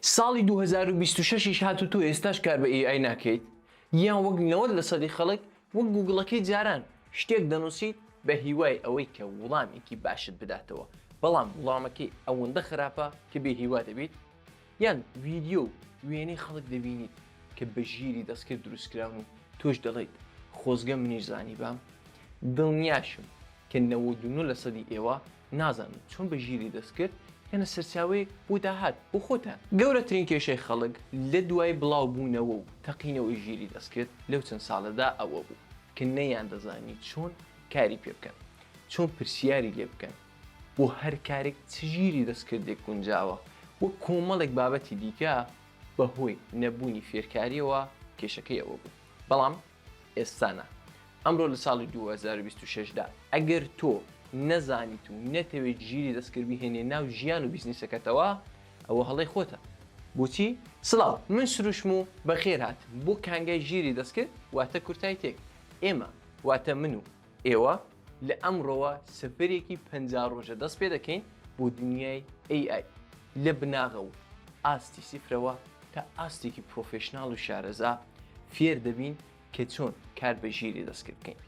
ساڵی دوو هەزار و بیست و شەش یش هات و تۆ ئێستاش کار بە AI ناکەیت یان وەک نەوەد لە سەدی خەڵک وەک گووگڵەکەی جاران شتێک دەنووسیت بە هیوای ئەوەی کە وڵامێکی باشت بداتەوە بەڵام وڵامەکەی ئەوەندە خراپە کە بێ هیوا دەبیت یان ڤیدیۆ و وێنەی خەڵک دەبینیت کە بە ژیری دەستکرد دروست کراون و تۆش دەڵێیت خۆزگە منیش زانیبام دڵنیاشم کە نەوەد و نۆ لە سەدی ئێوە نازانن چۆن بە ژیری دەستکرد بکەنە سەرچاوەیەک بۆ داهات بۆ خۆتان. گەورەترین کێشەی خەڵک لە دوای بڵاوبوونەوە و تەقینەوەی ژیری دەستکرد لەو چەند ساڵەدا ئەوە بوو کە نەیاندەزانی چۆن کاری پێ بکەن، چۆن پرسیاری لێ بکەن، بۆ هەر کارێک چ ژیری دەستکردێک گونجاوە و کۆمەڵێک بابەتی دیکە، بەهۆی نەبوونی فێرکارییەوە کێشەکەی ئەوە بوو. بەڵام. ئێستانە ئەمرۆ لە ساڵی دوو هەزار و بیست و شەش دا ئەگەر تۆ نەزانیت و نەتەوێت ژیری دەستکرد بیهێنێ ناو ژیان و بیزنیسەکەتەوە ئەوە هەڵەی خۆتە بۆچی؟ سڵاو من سروشم و بەخێر هاتم بۆ کانگای ژیری دەستکرد واتە کورتای تێک ئێمە واتە من و ئێوە لە ئەمڕۆوە سەفەرێکی پەنجا ڕۆژە دەست پێ دەکەین بۆ دنیای AI لە بناغە و ئاستی سیفرەوە تا ئاستێکی پرۆفێشناڵ و شارەزا فێر دەبین کە چۆن کار بە ژیری دەستکرد بکەین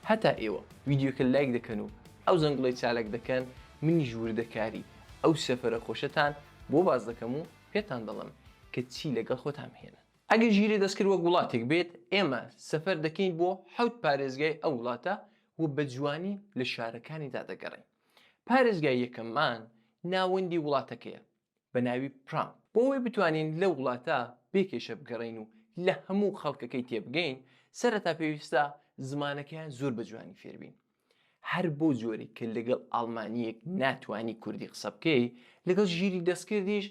هەتا ئێوە ویدیوکە لایک دەکەن و ئەو زەنگڵی چالک دەکەن منیش وردەکاری ئەو سەفرە خۆشەتان بۆ باز دەکەم و پێتان دەڵم کە چی لەگەڵ خۆتان بهێنن ئەگەر ژیری دەستکرد وەک وڵاتێک بێت، ئێمە سەفەر دەکەین بۆ حەوت پارێزگای ئەو وڵاتە و بە جوانی لە شارەکانیدا دەگەڕێین. پارێزگای یەکەممان ناوەندی وڵاتەکەیە بە ناوی پرام. بۆ ئەوەی بتوانین لەو وڵاتە بێ کێشە بگەڕێین و لە هەموو خەڵکەکەی تێبگەین، سەرەتا پێویستە زمانەکەیان زۆر بە جوانی فێربین. هەر بەو جۆرەی کە لەگەڵ ئاڵمانییەک ناتوانی کوردی قسە بکەی، لەگەڵ ژیری دەستکردیش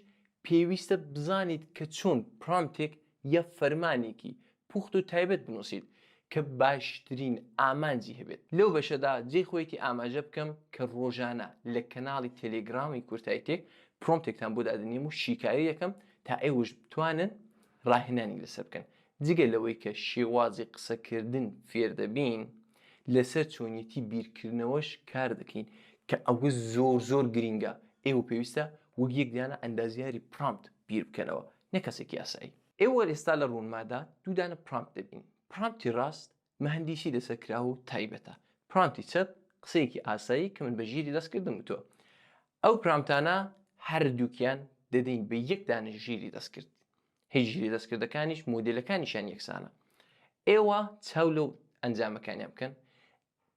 پێویستە بزانیت کە چۆن پرامتێک یا فەرمانێکی پوخت و تایبەت بنووسیت کە باشترین ئامانجی هەبێت. لەو بەشەدا جێی خۆیەتی ئاماژە بکەم کە ڕۆژانە لە کەناڵی تێلێگرامی کورتایتێک پرۆمتێکتان بۆ دادەنێم و شیکاری دەکەم تا ئێوەش بتوانن ڕاهێنانی لەسەر بکەن، جگە لەوەی کە شێوازی قسەکردن فێر دەبین، لەسەر چۆنیەتی بیرکردنەوەش کار دەکەین، کە ئەوە زۆر زۆر گرینگە، ئێوە پێویستە وەک یەک دانە ئەندازیاری پرامپت بیر بکەنەوە، نەک کەسێکی ئاسایی. ئێوە ئێستا لە ڕوونمادا دوو دانە پرامپت دەبینن، پرامپتی ڕاست مهندیسی دەسەکراو و تایبەتە. پرامتی چەپ قسەیەکی ئاسایی کە من بە ژیری دەست کردم وتووە. ئەو پرامتانە هەردووکیان دەدەین بە یەک دانە ژیری دەستکرد. هی ژیری دەستکردەکانیش مۆدێلەکانیشیان یەکسانە. ئێوە چاو لەو ئەنجامەکانیان بکەن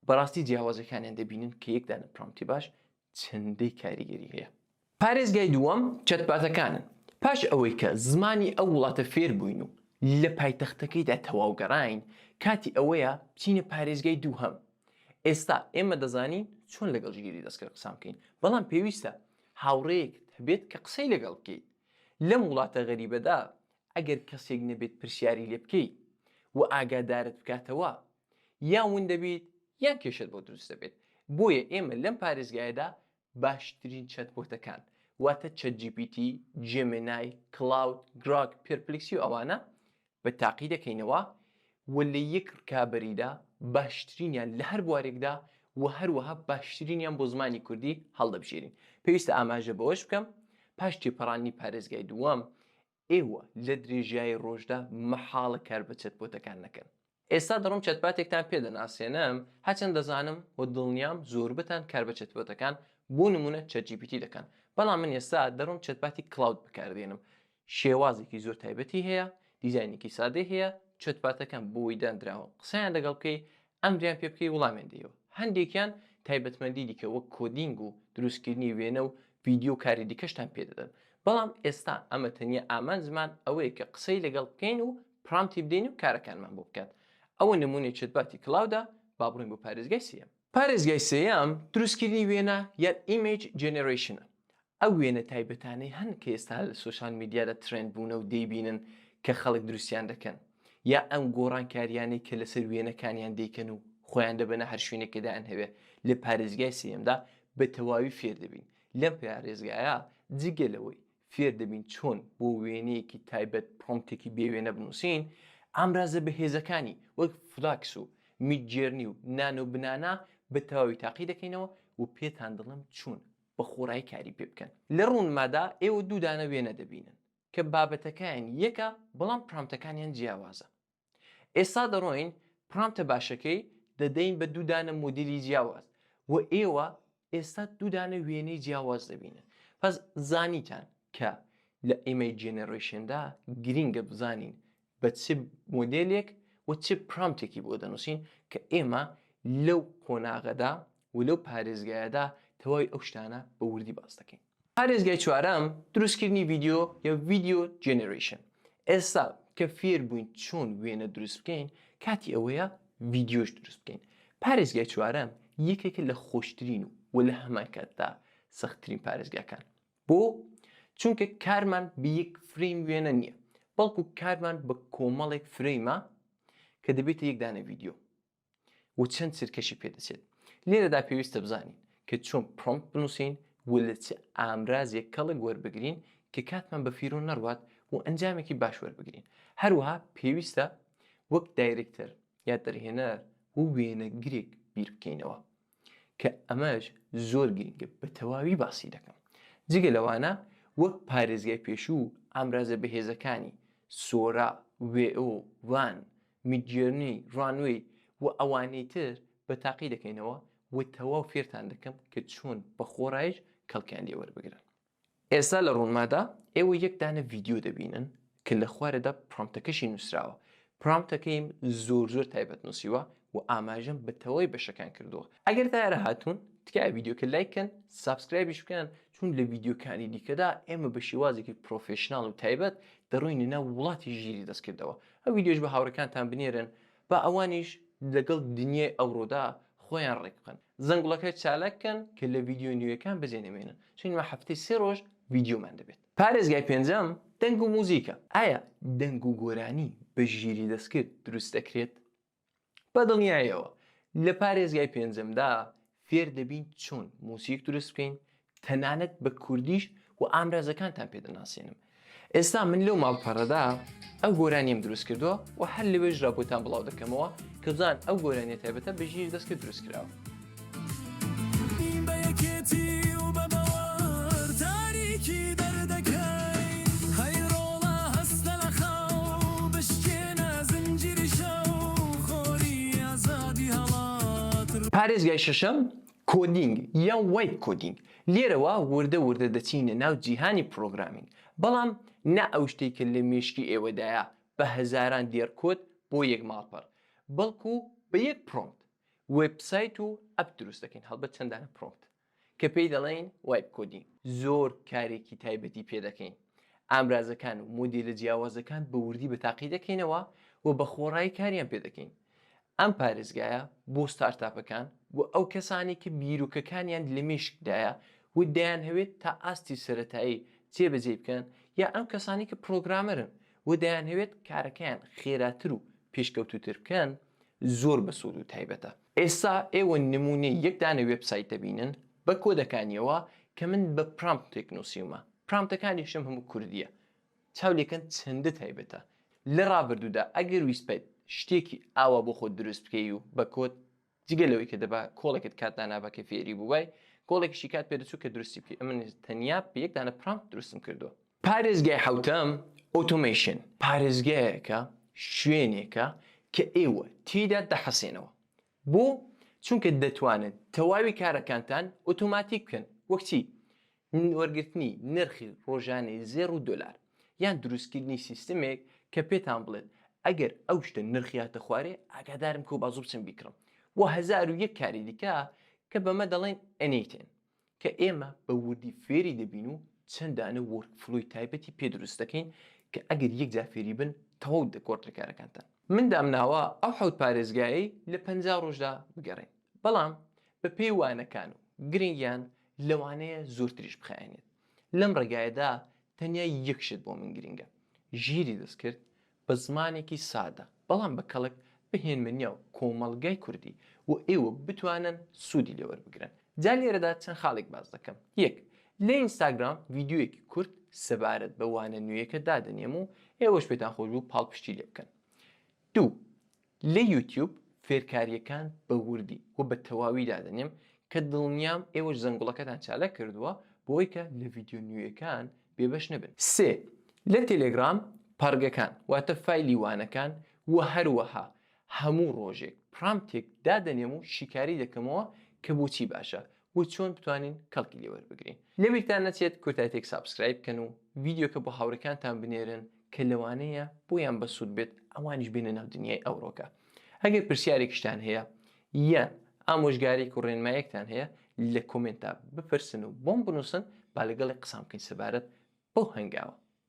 بەڕاستی جیاوازیەکانیان دەبینن کە یەک دانە پرامتی باش چەندەی کاریگەری هەیە. پارێزگای دووەم چەتپاتەکانن، پاش ئەوەی کە زمانی ئەو وڵاتە فێر بووین و لە پایتەختەکەیدا تەواو گەڕاین، کاتی ئەوەیە بچینە پارێزگای دووهەم. ئێستا ئێمە دەزانین چۆن لەگەڵ ژیری دەستکرد قسان بکەین، بەڵام پێویستە هاوڕێیەکت هەبێت کە قسەی لەگەڵ بکەیت. لەم وڵاتە غەریبەدا ئەگەر کەسێک نەبێت پرسیاری لێ بکەی و ئاگادارت بکاتەوە، یان ون دەبیت یان کێشەت بۆ دروست دەبێت بۆیە ئێمە لەم پارێزگایەدا باشترین چەتبۆتەکان واتە چەت جی پی تی، جێمێنای، کڵاود، گراک، پێرپلیکسی و ئەوانە بە تاقی دەکەینەوە و لە یەک رکابەریدا باشترینیان لە هەر بوارێکدا و هەروەها باشترینیان بۆ زمانی کوردی هەڵدەبژێرین پێویستە ئاماژە بەوەش بکەم پاش تێپەڕاندنی پارێزگای دووەم ئێوە لە درێژایی ڕۆژدا مەحاڵە کار بە چەت بۆتەکان نەکەن. ئێستا دەڕۆم چەتباتێکتان پێ دەناسێنم، هەرچەند دەزانم و دڵنیام زۆربەتان کار بە چەتبۆتەکان بۆ نموونە چەت جی پی تی دەکەن، بەڵام من ئێستا دەڕۆم چەتباتی کلاود بەکار دێنم، شێوازێکی زۆر تایبەتی هەیە، دیزاینێکی سادەی هەیە، چەتباتەکان بۆی داندراوە قسەیان لەگەڵ بکەی ئەمریان پێ بکەی وڵامیان دەیەوە هەندێکیان تایبەتمەندی دیکە وەک کۆدینگ و دروستکردنی وێنە و ڤیدیۆ و کاری دیکەشتان پێ دەدەن بەڵام ئێستا ئەمە تەنیا ئامانجمان ئەوەیە کە قسەی لەگەڵ بکەین و پرامتی بدەین و کارەکانمان بۆ بکات ئەوە نمونەی چەتباتی کلاودە با بڕۆین بۆ پارێزگای سێیەم. پارێزگای سێیەم دروستکردنی وێنە یان ئیمەیج جێنێرەیشنە ئەو وێنە تایبەتانەی هەن کە ئێستا لە سۆشیال میدیادا ترێند بوونە و دەیبینن کە خەڵک دروستیان دەکەن، یا ئەم گۆڕانکارییانەی کە لەسەر وێنەکانیان دەیکەن و خۆیان دەبەنە هەر شوێنێک کە دایانهەوێ، لە پارێزگای سێیەمدا بە تەواوی فێر دەبین. لەم پارێزگایە جگە لەوەی فێر دەبین چۆن بۆ وێنەیەکی تایبەت پرۆمتێکی بێ وێنە بنووسین، ئامرازە بەهێزەکانی وەک فلاکس و میدجێرنی و نانۆ بنانا بە تەواوی تاقی دەکەینەوە و پێتان دەڵێم چۆن. بە خۆڕایی کاری پێ بکەن لە ڕوونمادا ئێوە دوو دانە وێنە دەبینن کە بابەتەکەیان یەکە بەڵام پرامتەکانیان جیاوازە ئێستا دەڕۆین پرامتە باشەکەی دەدەین بە دوو دانە مۆدیلی جیاواز و ئێوە ئێستا دوو دانە وێنەی جیاواز دەبینن پس زانیتان کە لە ئیمەی جێنەرۆیشندا گرینگە بزانین بە چ مۆدێلێک و چ پرامتێکی بۆ دەنووسین کە ئێمە لەو قۆناغەدا و لەو پارێزگایەدا تەواوی ئەو شتانە بە وردی باس دەکەین. پارێزگای چوارەم، دروستکردنی ڤیدیۆ یا ڤیدیۆ جێنێرەیشن. ئێستا کە فێر بووین چۆن وێنە دروست بکەین، کاتی ئەوەیە ڤیدیۆش دروست بکەین. پارێزگای چوارەم یەکێکە لە خۆشترین و لە هەمانکاتدا سەختترین پارێزگاکان. بۆ؟ چونکە کارمان بە یەک فرەیم وێنە نییە، بەڵکو کارمان بە کۆمەڵێک فرەیمە کە دەبێتە یەک دانە ڤیدیۆ و چەند چرکەشی پێدەچێت. لێرەدا پێویستە بزانین کە چۆن پرۆمپت بنووسین و لە چ ئامرازێک کەڵک وەربگرین کە کاتمان بە فیرۆ نەڕوات و ئەنجامێکی باش وەربگرین. هەروەها پێویستە وەک دایرێکتەر یا دەرهێنەر و وێنەگرێک بیر بکەینەوە. کە ئەمەش زۆر گرنگە بە تەواوی باسی دەکەم جگە لەوانە وەک پارێزگای پێشوو ئامرازە بەهێزەکانی سۆرا وێئۆ وان میدجێرنی ڕانوەی و ئەوانەی تر بە تاقی دەکەینەوە و تەواو فێرتان دەکەم کە چۆن بە خۆڕایش کەڵکیان لێ وەربگرن. ئێستا لە ڕوونمادا ئێوە یەک دانە ڤیدیۆ دەبینن کە لە خوارەدا پرۆمتەکەشی نووسراوە، پرۆمتەکەیم زۆر زۆر تایبەت نووسیوە و ئاماژەم بە تەواوی بەشەکان کردووە. ئەگەر تا ئێرە هاتوون تکایە ڤیدیۆکە لایک کەن، سابسکرایبیش بکەن چون لە ڤیدیۆکانی دیکەدا ئێمە بە شێوازێکی پرۆفێشناڵ و تایبەت دەڕۆینە ناو وڵاتی ژیری دەستکردەوە. ئەو ڤیدیۆش بە هاوڕێکانتان بنێرن. با ئەوانیش لەگەڵ دنیای ئەوڕۆدا خۆیان ڕێک بخەن زەنگوڵەکە چالاک کەن کە لە ڤیدیۆ نوێیەکان بەجێ نەمێنن چون مە هەفتەی سێ ڕۆژ ڤیدیۆمان دەبێت پارێزگای پێنجەم دەنگ و موزیکە ئایا دەنگ و گۆرانی بە ژیری دەستکرد دروست دەکرێت بە دڵنیایەوە لە پارێزگای پێنجەمدا فێر دەبین چۆن موسیک دروست بکەین تەنانەت بە کوردیش و ئامرازەکانتان پێ دەناسێنم ئێستا من لەو ماڵپەڕەدا ئەو گۆرانیم دروست کردووە و هەر لەوێژ را بۆتان بڵاو دەکەمەوە کە بزان ئەو گۆرانیە تایبەتە بەژیر دەست کرد دروست کراوە پارێزگای شەشەم، کۆدینگ یا وایب کۆدینگ، لێرەوە وردە وردە دەچینە ناو جیهانی پرۆگرامینگ، بەڵام نا ئەو شتەی کە لە مێشکی ئێوەدایە بە هەزاران دێڕ کۆد بۆ یەک ماڵپەڕ، بەڵکو بە یەک پرۆمت وێبسایت و ئەپ دروست دەکەین، هەڵبەت چەندانە پرۆمت. کە پێی دەڵێین وایب کۆدی زۆر کارێکی تایبەتی پێ دەکەین ئامرازەکان و مۆدیلە جیاوازەکان بە وردی بە تاقی دەکەینەوە و بە خۆڕایی کاریان پێ دەکەین ئەم پارێزگایە بۆ ستارتاپەکان و ئەو کەسانی کە بیرۆکەکانیان لە مێشکدایە و دەیان هەوێت تا ئاستی سەرەتایی جێبەجێی بکەن یا ئەم کەسانی کە پرۆگرامەرن و دەیان هەوێت کارەکەیان خێراتر و پێشکەوتوتر بکەن زۆر بەسوود و تایبەتە ئێستا ئێوە نموونەی یەک دانە وێبسایت دەبینن بە کۆدەکانیەوە کە من بە پرامپتێک نووسیومە، پرامپتەکانیشم هەموو کوردییە. چاو لێکەن چەندە تایبەتە. لە ڕابردوودا ئەگەر ویستبایت شتێکی ئاوا بۆ خۆت دروست بکەی و بە کۆد، جگە لەوەی کە دەبا کۆڵێکت کات دانابا کە فێری بووبای، کۆڵێکیشی کات پێدەچوو کە دروستی بکەی، ئەمن تەنیا بە یەک دانە پرامپت دروستم کردووە. پارێزگای حەوتەم ئۆتۆمەیشن پارێزگایەکە، شوێنێکە کە ئێوە تێیدا دەحەسێنەوە. بۆ؟ چونکە دەتوانن تەواوی کارەکانتان ئۆتۆماتیک بکەن، وەک چی؟ وەرگرتنی نرخی ڕۆژانەی زێڕ و دۆلار، یان دروستکردنی سیستمێک کە پێتان بڵێت ئەگەر ئەو شتە نرخیاتە خوارێ ئاگادارم کە و بازوو بچم بیکڕم و هەزار و یەک کاری دیکە کە بەمە دەڵێن NATen. کە ئێمە بە وردی فێری دەبین و چەند دانە وۆرک فلۆی تایبەتی پێ دروست دەکەین کە ئەگەر یەک جار فێری بن تەواو دەگۆڕدرێ کارەکانتان. من دامناوە ئەو حەوت پارێزگایەی لە پەنجا ڕۆژدا بگەڕێین بەڵام بە پێی وانەکان و گرنگیان لەوانەیە زۆرتریش بخایەنێت لەم ڕێگایەدا تەنیا یەک شت بۆ من گرنگە ژیری دەستکرد بە زمانێکی سادە بەڵام بە کەڵک بهێنمە نێو کۆمەڵگای کوردی بۆ ئێوە بتوانن سوودی لێ وەربگرن جا لێرەدا چەند خاڵێک باس دەکەم یەک لە ئینستاگرام ڤیدیۆیەکی کورت سەبارەت بە وانە نوێیەکە دادەنێم و ئێوەش پێتان خۆش بوو پاڵپشتی لێ بکەن دوو لە یوتیوب فێرکارییەکان بە وردی و بە تەواوی دادەنێم کە دڵنیام ئێوەش زەنگوڵەکەتان چالاک کردووە بۆی کە لە ڤیدیۆ نوێیەکان بێبەش نەبن. سێ، لە تێلێگرام پەڕگەکان واتە فایلی وانەکان و هەروەها هەموو ڕۆژێک پرامپتێک دادەنێم و شیکاری دەکەمەوە کە بۆچی باشە و چۆن بتوانین کەڵکی لێ وەربگرین لەبیرتان نەچێت کۆتایتێک سابسکرایب بکەن و ڤیدیۆکە بۆ هاوڕێکانتان بنێرن کە لەوانەیە بۆیان بەسوود بێت ئەوانیش بێنە ناو دنیای ئەوڕۆکە ئەگەر پرسیارێکیشتان هەیە یان ئامۆژگاریک و ڕێنمایەکتان هەیە لە کۆمێنتا بپرسن و بۆم بنووسن با لەگەڵی قسان بکەین سەبارەت بەو هەنگاوە